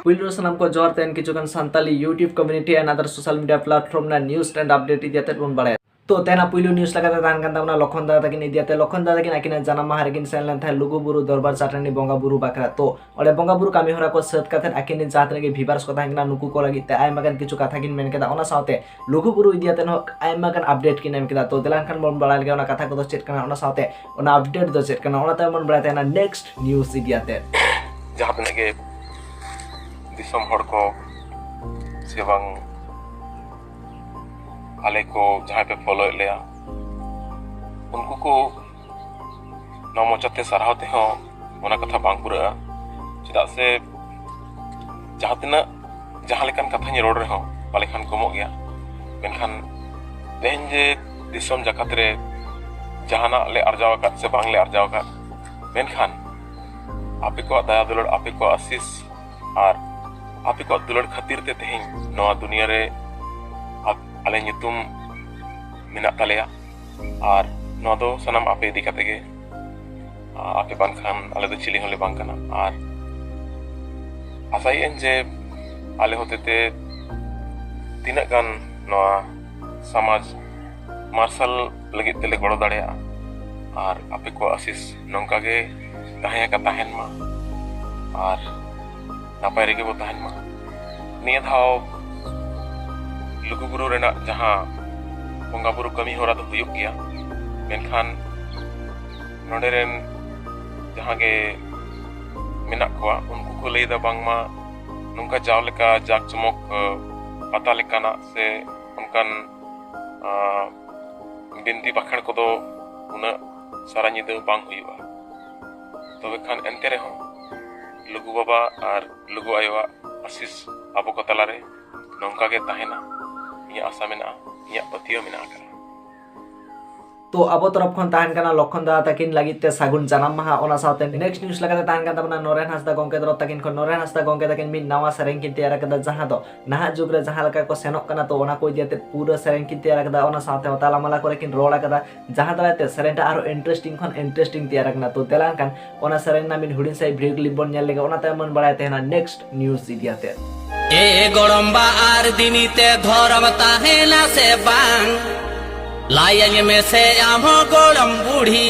ᱯᱩᱭᱞᱩ ᱥᱟᱱᱟᱢ ᱠᱚ ᱡᱚᱦᱟᱨ ᱛᱮᱱ ᱠᱤᱪᱷᱩ ᱜᱟᱱ ᱥᱟᱱᱛᱟᱞᱤ ᱭᱩᱴᱤᱭᱩᱵ ᱠᱚᱢᱤᱱᱤᱴᱤ ᱟᱨ ᱟᱫᱟᱨ ᱥᱳᱥᱟᱞ ᱢᱤᱰᱤᱭᱟ ᱯᱞᱟᱴᱯᱷᱚᱨᱢ ᱨᱮᱱᱟᱜ ᱱᱤᱭᱩᱡ ᱮᱱᱰ ᱟᱯᱰᱮᱴ ᱤᱫᱤ ᱠᱟᱛᱮ ᱵᱚᱱ ᱵᱟᱲᱟᱭᱟ ᱛᱚ ᱛᱮᱱᱟ ᱯᱩᱭᱞᱩ ᱱᱤᱭᱩᱡ ᱞᱮᱠᱟᱛᱮ ᱛᱟᱦᱮᱱ ᱠᱟᱱ ᱛᱟᱵᱚᱱᱟ ᱞᱚᱠᱷᱚᱱ ᱫᱟᱫᱟ ᱛᱟᱹᱠᱤᱱ ᱤᱫᱤ ᱠᱟᱛᱮ ᱞᱚᱠᱷᱚᱱ ᱫᱟᱫᱟ ᱛᱟᱹᱠᱤᱱ ᱟᱹᱠᱤᱱᱟᱜ ᱡᱟᱱᱟᱢ ᱢᱟᱦᱟ ᱨᱮᱠᱤᱱ ᱥᱮᱱ ᱞᱮᱱ ᱛᱟᱦᱮᱸᱫ ᱞᱩᱜᱩᱵᱩᱨᱩ ᱫᱚᱨᱵᱟᱨ ᱪᱟᱹᱴᱟᱹᱱᱤ ᱵᱚᱸᱜᱟ ᱵᱩᱨᱩ ᱵᱟᱠᱷᱨᱟ ᱛᱚ ᱚᱸᱰᱮ ᱵᱚᱸᱜᱟ ᱵᱩᱨᱩ ᱠᱟᱹᱢᱤ ᱦᱚᱨᱟ ᱠᱚ ᱥᱟᱹᱛ ᱠᱟᱛᱮ ᱟᱹᱠᱤᱱ ᱨᱮᱱ ᱡᱟᱦᱟᱸ ᱛᱤᱱᱟᱹᱜ ᱜᱮ ᱵᱷᱤᱵᱟᱨᱥ ᱠᱚ ᱛᱟᱦᱮᱸ ᱠᱟᱱᱟ ᱱᱩᱠᱩ ᱠᱚ ᱞᱟᱹᱜᱤᱫ ᱛᱮ ᱟᱭᱢᱟ ᱜᱟᱱ ᱠᱤᱪᱷᱩ ᱠᱟᱛᱷᱟ ᱠᱤᱱ ᱢᱮᱱ ᱠᱮᱫᱟ ᱚᱱᱟ ᱥᱟᱶᱛᱮ ᱞᱩᱜᱩ ᱵᱩᱨᱩ ᱤᱫᱤ ᱠᱟᱛᱮ ᱦᱚᱸ ᱟᱭᱢᱟ ᱜᱟᱱ ᱟᱯᱰᱮᱴ ᱠᱤᱱ ᱮᱢ ᱠᱮᱫᱟ ᱛᱚ ᱫᱮᱞᱟ ᱮᱱᱠᱷᱟᱱ ᱵᱚᱱ ᱵᱟᱲᱟᱭ ᱞᱮᱜᱮ ᱚᱱᱟ ᱠᱟᱛᱷᱟ ᱠᱚᱫᱚ ᱪᱮᱫ ᱠᱟᱱᱟ ᱚᱱᱟ ᱥᱟᱶᱛᱮ ᱚᱱᱟ ᱟᱯᱰᱮᱴ ᱫᱚ ᱪᱮᱫ ᱠᱟᱱᱟ ᱚᱱᱟ ᱛᱟᱭᱚᱢ ᱵᱚᱱ ᱵᱟᱲᱟᱭ ᱛᱟᱦᱮᱱᱟ ᱱᱮᱠᱥᱴ ᱱᱤᱭᱩᱡᱽ ᱤᱫᱤ ᱠᱟᱛᱮ ᱡᱟᱦᱟᱸ ᱛᱤᱱᱟᱹᱜ ᱜᱮ ᱫᱤᱥᱚᱢ ᱦᱚᱲ ᱠᱚ ᱥᱮ ᱵᱟᱝ ᱟᱞᱮ ᱠᱚ ᱡᱟᱦᱟᱸᱭ ᱯᱮ ᱯᱷᱚᱞᱳᱭᱮᱫ ᱞᱮᱭᱟ ᱩᱱᱠᱩ ᱠᱚ ᱱᱚᱣᱟ ᱢᱚᱪᱟᱛᱮ ᱥᱟᱨᱦᱟᱣ ᱛᱮᱦᱚᱸ ᱚᱱᱟ ᱠᱟᱛᱷᱟ ᱵᱟᱝ ᱯᱩᱨᱟᱹᱜᱼᱟ ᱪᱮᱫᱟᱜ ᱥᱮ ᱡᱟᱦᱟᱸ ᱛᱤᱱᱟᱹᱜ ᱡᱟᱦᱟᱸ ᱞᱮᱠᱟᱱ ᱠᱟᱛᱷᱟᱧ ᱨᱚᱲ ᱨᱮᱦᱚᱸ ᱯᱟᱞᱮ ᱠᱷᱟᱱ ᱠᱚᱢᱚᱜ ᱜᱮᱭᱟ ᱢᱮᱱᱠᱷᱟᱱ ᱛᱮᱦᱮᱧ ᱡᱮ ᱫᱤᱥᱚᱢ ᱡᱟᱠᱟᱛ ᱨᱮ ᱡᱟᱦᱟᱱᱟᱜ ᱞᱮ ᱟᱨᱡᱟᱣ ᱟᱠᱟᱫ ᱥᱮ ᱵᱟᱝᱞᱮ ᱟᱨᱡᱟᱣ ᱟᱠᱟᱫ ᱢᱮᱱᱠᱷᱟᱱ ᱟᱯᱮ ᱠᱚᱣᱟᱜ ᱫᱟᱭᱟ ᱫᱩᱞᱟᱹᱲ ᱟᱯᱮ ᱠᱚᱣᱟᱜ ᱟᱥᱤᱥ ᱟᱨ ᱟᱯᱮ ᱠᱚᱣᱟᱜ ᱫᱩᱞᱟᱹᱲ ᱠᱷᱟᱹᱛᱤᱨ ᱛᱮ ᱛᱮᱦᱮᱧ ᱱᱚᱣᱟ ᱫᱩᱱᱤᱭᱟᱹ ᱨᱮ ᱟᱞᱮ ᱧᱩᱛᱩᱢ ᱢᱮᱱᱟᱜ ᱛᱟᱞᱮᱭᱟ ᱟᱨ ᱱᱚᱣᱟ ᱫᱚ ᱥᱟᱱᱟᱢ ᱟᱯᱮ ᱤᱫᱤ ᱠᱟᱛᱮ ᱜᱮ ᱟᱯᱮ ᱵᱟᱝᱠᱷᱟᱱ ᱟᱞᱮ ᱫᱚ ᱪᱤᱞᱤ ᱦᱚᱸᱞᱮ ᱵᱟᱝ ᱠᱟᱱᱟ ᱟᱨ ᱟᱥᱟᱭᱮᱫ ᱟᱹᱧ ᱡᱮ ᱟᱞᱮ ᱦᱚᱛᱮᱛᱮ ᱛᱤᱱᱟᱹᱜ ᱜᱟᱱ ᱱᱚᱣᱟ ᱥᱚᱢᱟᱡᱽ ᱢᱟᱨᱥᱟᱞ ᱞᱟᱹᱜᱤᱫ ᱛᱮᱞᱮ ᱜᱚᱲᱚ ᱫᱟᱲᱮᱭᱟᱜᱼᱟ ᱟᱨ ᱟᱯᱮ ᱠᱚᱣᱟᱜ ᱟᱥᱤᱥ ᱱᱚᱝᱠᱟ ᱜᱮ ᱛᱟᱦᱮᱸ ᱟᱠᱟᱱ ᱛᱟᱦᱮᱱ ᱢᱟ ᱟᱨ ᱱᱟᱯᱟᱭ ᱨᱮᱜᱮ ᱵᱚ ᱛᱟᱦᱮᱱ ᱢᱟ ᱱᱤᱭᱟᱹ ᱫᱷᱟᱣ ᱞᱩᱜᱩᱵᱩᱨᱩ ᱨᱮᱱᱟᱜ ᱡᱟᱦᱟᱸ ᱵᱚᱸᱜᱟ ᱵᱩᱨᱩ ᱠᱟᱹᱢᱤ ᱦᱚᱨᱟ ᱫᱚ ᱦᱩᱭᱩᱜ ᱜᱮᱭᱟ ᱢᱮᱱᱠᱷᱟᱱ ᱱᱚᱰᱮ ᱨᱮᱱ ᱡᱟᱦᱟᱸ ᱜᱮ ᱢᱮᱱᱟᱜ ᱠᱚᱣᱟ ᱩᱱᱠᱩ ᱠᱚ ᱞᱟᱹᱭᱫᱟ ᱵᱟᱝᱢᱟ ᱱᱚᱝᱠᱟ ᱡᱟᱣ ᱞᱮᱠᱟ ᱡᱟᱠ ᱡᱚᱢᱚᱠ ᱯᱟᱛᱟ ᱞᱮᱠᱟᱱᱟᱜ ᱥᱮ ᱚᱱᱠᱟᱱ ᱵᱤᱱᱛᱤ ᱵᱟᱠᱷᱮᱬ ᱠᱚᱫᱚ ᱩᱱᱟᱹᱜ ᱥᱟᱨᱟ ᱧᱤᱫᱟᱹ ᱵᱟᱝ ᱦᱩᱭᱩᱜᱼᱟ ᱛᱚᱵᱮ ᱠᱷᱟᱱ ᱮᱱᱛᱮ ᱨᱮᱦᱚᱸ ᱞᱩᱜᱩ ᱵᱟᱵᱟ ᱟᱨ ᱞᱩᱜᱩ ᱟᱭᱳᱣᱟᱜ ᱟᱥᱤᱥ ᱟᱵᱚ ᱠᱚ ᱛᱟᱞᱟᱨᱮ ᱱᱚᱝᱠᱟ ᱜᱮ ᱛᱟᱦᱮᱱᱟ ᱤᱧᱟᱹᱜ ᱟᱥᱟ ᱢᱮᱱᱟᱜᱼᱟ ᱤᱧᱟᱹᱜ ᱯᱟᱹᱛᱭᱟᱹᱣ ᱢᱮᱱᱟᱜ ᱟᱠᱟᱫᱟ ᱛᱚ ᱟᱵᱚ ᱛᱚᱨᱚᱯ ᱠᱷᱚᱱ ᱛᱟᱦᱮᱱ ᱠᱟᱱᱟ ᱞᱚᱠᱷᱚᱱ ᱫᱟᱫᱟ ᱛᱟᱹᱠᱤᱱ ᱞᱟᱹᱜᱤᱫ ᱛᱮ ᱥᱟᱹᱜᱩᱱ ᱡᱟᱱᱟᱢ ᱢᱟᱦᱟ ᱚᱱᱟ ᱥᱟᱶᱛᱮ ᱱᱮᱠᱥᱴ ᱱᱤᱭᱩᱡ ᱞᱮᱠᱟᱛᱮ ᱛᱟᱦᱮᱱ ᱠᱟᱱ ᱛᱟᱵᱚᱱᱟ ᱱᱚᱨᱮᱱ ᱦᱟᱸᱥᱫᱟ ᱜᱚᱝᱠᱮ ᱛᱚᱨᱚᱯ ᱛᱟᱹᱠᱤᱱ ᱠᱷᱚᱱ ᱱᱚᱨᱮᱱ ᱦᱟᱸᱥᱫᱟ ᱜᱚᱝᱠᱮ ᱛᱟᱹᱠᱤᱱ ᱢᱤᱫ ᱱᱟᱣᱟ ᱥᱮᱨᱮᱧ ᱠᱤᱱ ᱛᱮᱭᱟᱨ ᱟᱠᱟᱫᱟ ᱡᱟᱦᱟᱸ ᱫᱚ ᱱᱟᱦᱟᱜ ᱡᱩᱜᱽ ᱨᱮ ᱡᱟᱦᱟᱸ ᱞᱮᱠᱟ ᱠᱚ ᱥᱮᱱᱚᱜ ᱠᱟᱱᱟ ᱛᱚ ᱚᱱᱟ ᱠᱚ ᱤᱫᱤ ᱠᱟᱛᱮ ᱯᱩᱨᱟᱹ ᱥᱮᱨᱮᱧ ᱠᱤᱱ ᱛᱮᱭᱟᱨ ᱟᱠᱟᱫᱟ ᱚᱱᱟ ᱥᱟᱶᱛᱮ ᱛᱟᱞᱟᱢᱟᱞᱟ ᱠᱚᱨᱮ ᱠᱤᱱ ᱨᱚᱲ ᱟᱠᱟᱫᱟ ᱡᱟᱦᱟᱸ ᱫᱟᱨᱟᱭ ᱛᱮ ᱥᱮᱨᱮᱧ ᱴᱟᱜ ᱟᱨᱦᱚᱸ ᱤᱱᱴᱟᱨᱮᱥᱴᱤᱝ ᱠᱷᱚᱱ ᱤᱱᱴᱟᱨᱮᱥᱴᱤᱝ ᱛᱮᱭᱟᱨ ᱟᱠᱟᱱᱟ ᱛᱚ ᱫᱮᱞᱟ ᱮᱱᱠᱷᱟᱱ ᱚᱱᱟ ᱥᱮᱨᱮᱧ ᱨᱮᱱᱟᱜ ᱢᱤᱫ ᱦᱩᱰᱤᱧ ᱥᱟᱺᱦᱤᱡ ᱵᱷᱤᱰᱤᱭᱳ ᱠᱞᱤᱯ ᱵᱚᱱ ᱧᱮᱞ ᱞᱮᱜᱮ ᱚᱱᱟ ᱛᱟᱭᱚᱢ ᱵᱚᱱ ᱵᱟᱲᱟᱭ ᱛᱟᱦᱮᱱᱟ ᱱᱮᱠᱥᱴ ᱱᱤᱭᱩᱡᱽ ᱤᱫᱤ ᱟᱛᱮ ᱮ ᱜᱚᱲᱚᱢᱵᱟ ᱟᱨ ᱫᱤᱱᱤ ᱛᱮ ᱫᱷᱚᱨᱚᱢ ᱛᱟᱦᱮᱱᱟ ᱥᱮ ᱵᱟᱝ ᱞᱟᱭᱟᱹᱧ ᱢᱮᱥᱮ ᱟᱢ ᱦᱚᱸ ᱜᱚᱲᱚᱢ ᱵᱩᱲᱦᱤ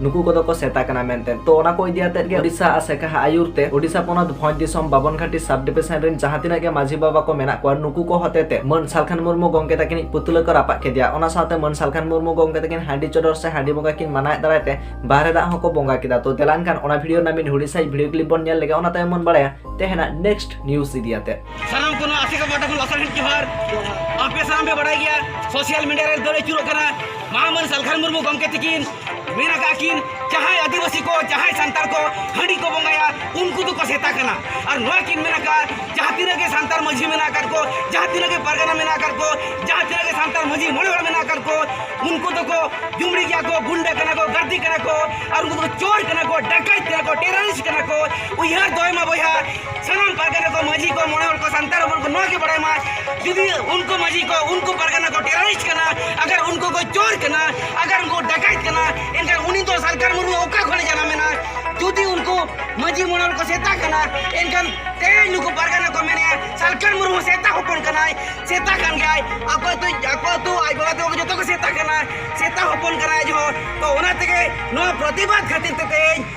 ᱱᱩᱠᱩ ᱠᱚᱫᱚ ᱠᱚ ᱥᱮᱛᱟ ᱠᱟᱱᱟ ᱢᱮᱱᱛᱮ ᱛᱚ ᱚᱱᱟ ᱠᱚ ᱤᱫᱤ ᱟᱛᱮᱫ ᱜᱮ ᱳᱰᱤᱥᱟ ᱟᱨ ᱥᱮᱠᱟᱦᱟ ᱟᱭᱩᱨ ᱛᱮ ᱳᱰᱤᱥᱟ ᱯᱚᱱᱚᱛ ᱵᱷᱚᱸᱡᱽ ᱫᱤᱥᱚᱢ ᱵᱟᱵᱚᱱᱜᱷᱟᱴᱤ ᱥᱟᱵ ᱰᱤᱵᱷᱤᱥᱚᱱ ᱨᱮᱱ ᱡᱟᱦᱟᱸ ᱛᱤᱱᱟᱹᱜ ᱜᱮ ᱢᱟᱹᱡᱷᱤ ᱵᱟᱵᱟ ᱠᱚ ᱢᱮᱱᱟᱜ ᱠᱚᱣᱟ ᱱᱩᱠᱩ ᱠᱚ ᱦᱚᱛᱮᱛᱮ ᱢᱟᱹᱱ ᱥᱟᱞᱠᱷᱟᱱ ᱢᱩᱨᱢᱩ ᱜᱚᱝᱠᱮ ᱛᱟᱹᱠᱤᱱᱤᱡ ᱯᱩᱛᱞᱟᱹ ᱠᱚ ᱨᱟᱯᱟᱜ ᱠᱮᱫᱮᱭᱟ ᱚᱱᱟ ᱥᱟᱶᱛᱮ ᱢᱟᱹᱱ ᱥᱟᱞᱠᱷᱟᱱ ᱢᱩᱨᱢᱩ ᱜᱚᱝᱠᱮ ᱛᱟᱹᱠᱤᱱ ᱦᱟᱺᱰᱤ ᱪᱚᱰᱚᱨ ᱥᱮ ᱦᱟᱺᱰᱤ ᱵᱚᱸᱜᱟ ᱠᱤᱱ ᱢᱟᱱᱟᱣᱮᱫ ᱫᱟᱨᱟᱭ ᱛᱮ ᱵᱟᱦᱨᱮ ᱫᱟᱜ ᱦᱚᱸᱠᱚ ᱵᱚᱸᱜᱟ ᱠᱮᱫᱟ ᱛᱚ ᱫᱮᱞᱟᱱ ᱠᱷᱟᱱ ᱚᱱᱟ ᱵᱷᱤᱰᱤᱭᱳ ᱨᱮᱱᱟᱜ ᱢᱤᱫ ᱦᱩᱰᱤᱧ ᱥᱟᱺᱦᱤᱡ ᱵᱷᱤᱰᱤᱭᱳ ᱠᱞᱤᱯ ᱵᱚᱱ ᱧᱮᱞ ᱞᱮᱜᱮ ᱚᱱᱟ ᱛᱟᱭᱚᱢ ᱵᱚᱱ ᱵᱟᱲᱟᱭᱟ ᱛᱮᱦᱮᱧᱟᱜ ᱱᱮᱠᱥᱴ ᱱᱤᱭᱩᱡᱽ ᱤᱫᱤ ᱟᱛᱮᱫ ᱥᱟᱱᱟᱢ ᱠᱚ ᱱᱚᱣᱟ ᱟᱥᱮᱠᱟ ᱯᱟᱦᱴᱟ ᱠᱷᱚᱱ ᱞᱟᱥᱟᱲᱦᱮᱫ ᱡᱚᱦᱟᱨ ᱟᱯᱮ ᱥᱟᱱᱟᱢ ᱯᱮ ᱵᱟᱰᱟᱭ ᱜᱮᱭᱟ ᱥᱳᱥᱤᱭᱟᱞ ᱢᱤᱰᱤᱭᱟ ᱨᱮ ᱫᱟᱹᱲ ᱟᱹᱪᱩᱨᱚᱜ ᱠᱟᱱᱟ ᱢᱟᱦᱟᱢᱟᱹᱱ ᱥᱟᱞᱠᱷᱟᱱ ᱢᱩᱨᱢᱩ ᱜᱚᱢᱠᱮ ᱛᱤᱠᱤᱱ ᱢᱮᱱ ᱟᱠᱟᱫ ᱠᱤᱱ ᱡᱟᱦᱟᱸᱭ ᱟᱹᱫᱤᱵᱟᱹᱥᱤ ᱠᱚ ᱡᱟᱦᱟᱸᱭ ᱥᱟᱱᱛᱟᱲ ᱠᱚ ᱦᱟᱺᱰᱤ ᱠᱚ ᱵᱚᱸᱜᱟᱭᱟ ᱩᱱᱠᱩ ᱫᱚᱠᱚ ᱥᱮᱛᱟ ᱠᱟᱱᱟ ᱟᱨ ᱱᱚᱣᱟ ᱠᱤᱱ ᱢᱮᱱ ᱟᱠᱟᱫ ᱡᱟᱦᱟᱸ ᱛᱤᱱᱟᱹᱜ ᱜᱮ ᱥᱟᱱᱛᱟᱲ ᱢᱟᱺᱡᱷᱤ ᱢᱮᱱᱟᱜ ᱟᱠᱟᱫ ᱠᱚ ᱡᱟᱦᱟᱸ ᱛᱤᱱᱟᱹᱜ ᱜᱮ ᱯᱟᱨᱜᱟᱱᱟ ᱢᱮᱱᱟᱜ ᱟᱠᱟᱫ ᱠᱚ ᱡᱟᱦᱟᱸ ᱛᱤᱱᱟᱹᱜ ᱜᱮ ᱥᱟᱱᱛᱟᱲ ᱢᱟᱺᱡᱷᱤ ᱢᱚᱬᱮ ᱦᱚᱲ ᱢᱮᱱᱟᱜ ᱟᱠᱟᱫ ᱠᱚ ᱩᱱᱠᱩ ᱫᱚᱠᱚ ᱡᱩᱢᱲᱤ ᱜᱮᱭᱟ ᱠᱚ ᱜᱩᱱᱰᱟᱹ ᱠᱟᱱᱟ ᱠᱚ ᱜᱟᱹᱨᱫᱤ ᱠᱟᱱᱟ ᱠᱚ ᱟᱨ ᱩᱱᱠᱩ ᱫᱚᱠᱚ ᱪᱳᱨ ᱠᱟᱱᱟ ᱠᱚ ᱰᱟᱠᱟᱭᱛ ᱠᱟᱱᱟ ᱠᱚ ᱴᱮᱨᱟᱨᱤᱥᱴ ᱠᱟᱱᱟ ᱠᱚ ᱩᱭᱦᱟᱹᱨ ᱫᱚᱦᱚᱭ ᱢᱟ ᱵᱚᱭᱦᱟ ᱥᱟᱱᱟᱢ ᱯᱟᱨᱜᱟᱱᱟ ᱠᱚ ᱢᱟᱹᱡᱷᱤ ᱠᱚ ᱢᱚᱬᱮ ᱦᱚᱲ ᱠᱚ ᱥᱟᱱᱛᱟᱲ ᱦᱚᱯᱚᱱ ᱠᱚ ᱱᱚᱣᱟ ᱜᱮ ᱵᱟᱲᱟᱭ ᱢᱟ ᱡᱩᱫᱤ ᱩᱱᱠᱩ ᱢᱟᱹᱡᱷᱤ ᱠᱚ ᱩᱱᱠᱩ ᱯᱟᱨᱜᱟᱱᱟ ᱠᱚ ᱴᱮᱨᱚᱨᱤᱥᱴ ᱠᱟᱱᱟ ᱟᱜᱟᱨ ᱩᱱᱠᱩ ᱠᱚ ᱪᱳᱨ ᱠᱟᱱᱟ ᱟᱜᱟᱨ ᱩᱱᱠᱩ ᱰᱟᱠᱟᱭᱛ ᱠᱟᱱᱟ ᱮᱱᱠᱷᱟᱱ ᱩᱱᱤ ᱫᱚ ᱥᱟᱞᱠᱟᱨ ᱢᱩᱨᱢᱩ ᱚᱠᱟ ᱠᱷᱚᱱᱮ ᱡᱟᱱᱟᱢᱮᱱᱟ ᱡᱩᱫᱤ ᱩᱱᱠᱩ ᱢᱟᱹᱡᱷᱤ ᱢᱚᱬᱮ ᱦᱚᱲ ᱠᱚ ᱥᱮᱛᱟ ᱠᱟᱱᱟ ᱮᱱᱠᱷᱟᱱ ᱛᱮᱦᱮᱧ ᱱᱩᱠᱩ ᱯᱟᱨᱜᱟᱱᱟ ᱠᱚ ᱢᱮᱱᱮᱜᱼᱟ ᱥᱟᱞᱠᱟᱨ ᱢᱩᱨᱢᱩ ᱥᱮᱛᱟ ᱦᱚᱯᱚᱱ ᱠᱟᱱᱟᱭ ᱥᱮᱛᱟ ᱠᱟᱱ ᱜᱮᱭᱟᱭ ᱟᱠᱚ ᱟᱹᱛᱩ ᱟᱠᱚ ᱟᱹᱛᱩ ᱟᱡ ᱵᱟᱵᱟ ᱛᱟᱠᱚ ᱡᱚᱛᱚ ᱠᱚ ᱥᱮᱛᱟ ᱠᱟᱱᱟ ᱥᱮᱛᱟ ᱦᱚᱯᱚᱱ ᱠᱟᱱᱟᱭ ᱟᱡ ᱦᱚᱸ ᱛᱚ ᱚᱱᱟ ᱛᱮᱜᱮ ᱱᱚᱣᱟ ᱯᱨᱚᱛᱤᱵᱟᱫ ᱠᱷᱟᱹᱛᱤᱨ ᱛᱮ ᱛᱮᱦᱮᱧ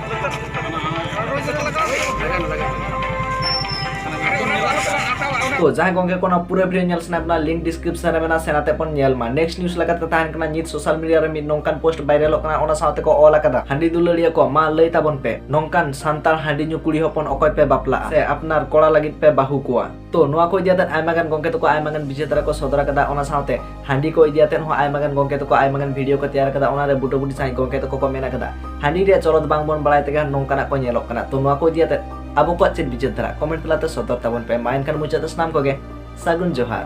ᱛᱚ ᱡᱟᱦᱟᱸᱭ ᱜᱚᱝᱠᱮ ᱠᱚ ᱚᱱᱟ ᱯᱩᱨᱟᱹ ᱵᱷᱤᱰᱤᱭᱳ ᱧᱮᱞ ᱥᱟᱱᱟᱭᱮᱫ ᱵᱚᱱᱟ ᱞᱤᱝᱠ ᱰᱤᱥᱠᱨᱤᱯᱥᱚᱱ ᱨᱮ ᱢᱮᱱᱟᱜᱼᱟ ᱥᱮᱱᱟᱛᱮ ᱵᱚᱱ ᱧᱮᱞ ᱢᱟ ᱱᱮᱠᱥᱴ ᱱᱤᱭᱩᱡ ᱞᱮᱠᱟᱛᱮ ᱛᱟᱦᱮᱱ ᱠᱟᱱᱟ ᱱᱤᱛ ᱥᱳᱥᱟᱞ ᱢᱤᱰᱤᱭᱟ ᱨᱮ ᱢᱤᱫ ᱱᱚᱝᱠᱟᱱ ᱯᱳᱥᱴ ᱵᱷᱟᱭᱨᱟᱞᱚᱜ ᱠᱟᱱᱟ ᱚᱱᱟ ᱥᱟᱶᱛᱮ ᱠᱚ ᱚᱞ ᱟᱠᱟᱫᱟ ᱦᱟᱺᱰᱤ ᱫᱩᱞᱟᱹᱲᱤᱭᱟᱹ ᱠᱚ ᱢᱟ ᱞᱟᱹᱭ ᱛᱟᱵᱚᱱ ᱯᱮ ᱱᱚᱝᱠᱟᱱ ᱥᱟᱱᱛᱟᱲ ᱦᱟᱺᱰᱤ ᱧᱩ ᱠᱩᱲᱤ ᱦᱚᱯᱚᱱ ᱚᱠᱚᱭ ᱯᱮ ᱵᱟᱯᱞᱟᱜᱼᱟ ᱥᱮ ᱟᱯᱱᱟᱨ ᱠᱚᱲᱟ ᱞᱟᱹᱜᱤᱫ ᱯᱮ ᱵᱟᱹᱦᱩ ᱠᱚᱣᱟ ᱛᱚ ᱱᱚᱣᱟ ᱠᱚ ᱤᱫᱤᱭᱟᱛᱮ ᱟᱭᱢᱟ ᱜᱟᱱ ᱜᱚᱝᱠᱮ ᱛᱟᱠᱚ ᱟᱭᱢᱟ ᱜᱟᱱ ᱵᱤᱪᱟᱹᱨ ᱫᱟᱨᱟ ᱠᱚ ᱥᱚᱫᱚᱨ ᱟᱠᱟᱫᱟ ᱚᱱᱟ ᱥᱟᱶᱛᱮ ᱦᱟᱺᱰᱤ ᱠᱚ ᱤᱫᱤᱭᱟᱛᱮ ᱦᱚᱸ ᱟᱭᱢᱟ ᱜᱟᱱ ᱜᱚᱝᱠᱮ ᱛᱟᱠᱚ ᱟᱭᱢᱟ ᱜᱟᱱ ᱵᱷᱤᱰᱤᱭᱳ ᱠᱚ ᱛᱮᱭᱟᱨ ᱟᱠᱟᱫᱟ ᱚᱱᱟ ᱨᱮ ᱵᱩᱴᱟᱹ ᱵᱩᱴᱤ ᱥᱟᱺᱦᱤᱡ ᱜᱚᱝᱠᱮ ᱛᱟᱠᱚ ᱠᱚ ᱢᱮᱱ ᱟᱠᱟᱫᱟ ᱦᱟᱺᱰᱤ ᱨᱮᱭᱟᱜ ᱪᱚᱞᱚᱛ ᱵᱟᱝ ᱵᱚᱱ ᱵᱟᱲᱟᱭ ᱛᱮᱜᱮ ᱱᱚᱝᱠᱟᱱᱟᱜ ᱠᱚ ᱧᱮᱞᱚᱜ ᱠᱟᱱᱟ ᱛᱚ ᱱᱚᱣᱟ ᱠᱚ ᱤᱫᱤᱭᱟᱛᱮ ᱟᱵᱚ ᱠᱚᱣᱟᱜ ᱪᱮᱫ ᱵᱤᱪᱟᱹᱨ ᱫᱟᱨᱟ ᱠᱚᱢᱮᱱᱴ ᱛᱟᱞᱟᱛᱮ ᱥᱚᱫᱚᱨ ᱛᱟᱵᱚᱱ ᱯᱮ ᱢᱟ ᱮᱱᱠᱷᱟᱱ ᱢᱩᱪᱟᱹᱫ ᱥᱟᱱᱟᱢ ᱠᱚᱜᱮ ᱥᱟᱹᱜᱩᱱ ᱡᱚᱦᱟᱨ